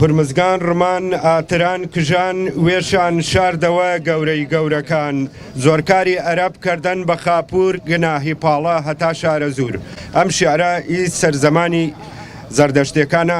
هورمزگان ڕمان ئاتران کژان وێشان شاردەوە گەورەی گەورەکان زۆرکاری ئەرەب کردن بە خاپور گناهی پاڵە هەتا شارە زور ئەم شعرە ئی سەرزەمانی زەردەشتەکانە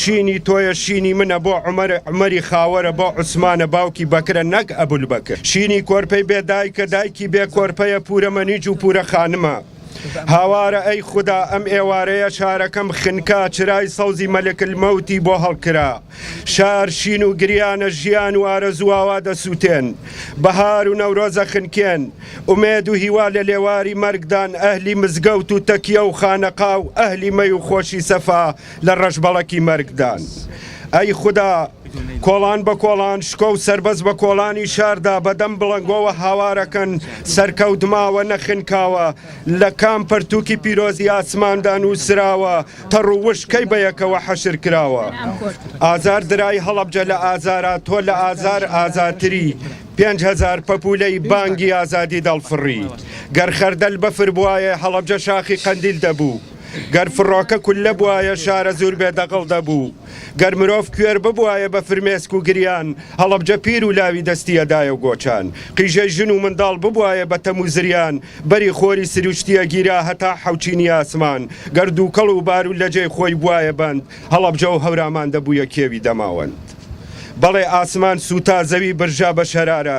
شینی تۆیە شینی منە بۆ عومەرە عومەری خاوەرە بۆ عوسمانە باوکی بەکرە نەک ئەبولبەکر شینی کۆرپەی بێ دایکە دایکی بێ کۆرپەیە پورە مەنیج و پورە خانمە هاوارە ئەی خودا ئەم ئێوارەیە شارەکەم خنکا چرای سەوزی مەلکل مەوتی بۆ هەڵکرا شار شین و گریانە ژیان و ئارەزوواوا دەسووتێن بەهار و نەورۆزە خنکێن ئومێد و هیوا لە لێواری مەرگدان ئەهلی مزگەوت و تەکیە و خانەقا و ئەهلی مەی و خۆشی سەفا لە ڕەشبەڵەکی مەرگدان. ئەی خودا! کۆڵان بە کۆڵان شکۆ و سەربەست بە کۆڵانی شاردا بە دەم بڵەنگۆوە هاوارەکەن، سەرکەوت ماوە نەخنکاوە، لە کام پەرتووکی پیرۆزی ئاسماندا نووسراوە، تەڕ و وشک کەی بە یەکەوە حەشر کراوە؟ ئازار درای هەڵەبجە لە ئازارا تۆ لە ئازار ئازاتری، پێنج هەزار پەپوولەی بانگی ئازادی دەڵفڕی. گەر خەردەل بەفر بوایێ هەڵەبجە شاخی قەندیل دەبوو. گەر فڕۆکە کوللە بوایە شارە زور بێ دەغڵ دەبوو، گەر مرۆڤ کوێر ببوایە بە فرمێسک و گریان هەڵەبجە پیر و لاوی دەستی ئەدایە و گۆچان قیژەی ژن و منداڵ ببوایە بە تەم و زریان بەری خۆری سروشتی ئەگیرا هەتا حەوچینی ئاسمان گەر دوکەڵ و بارو لەجێی خۆی بوایە بەند هەڵەبجە و هەورامان دەبویە کێوی دەماوەند بەڵێ ئاسمان سوتا زەوی برژا بە شەرارە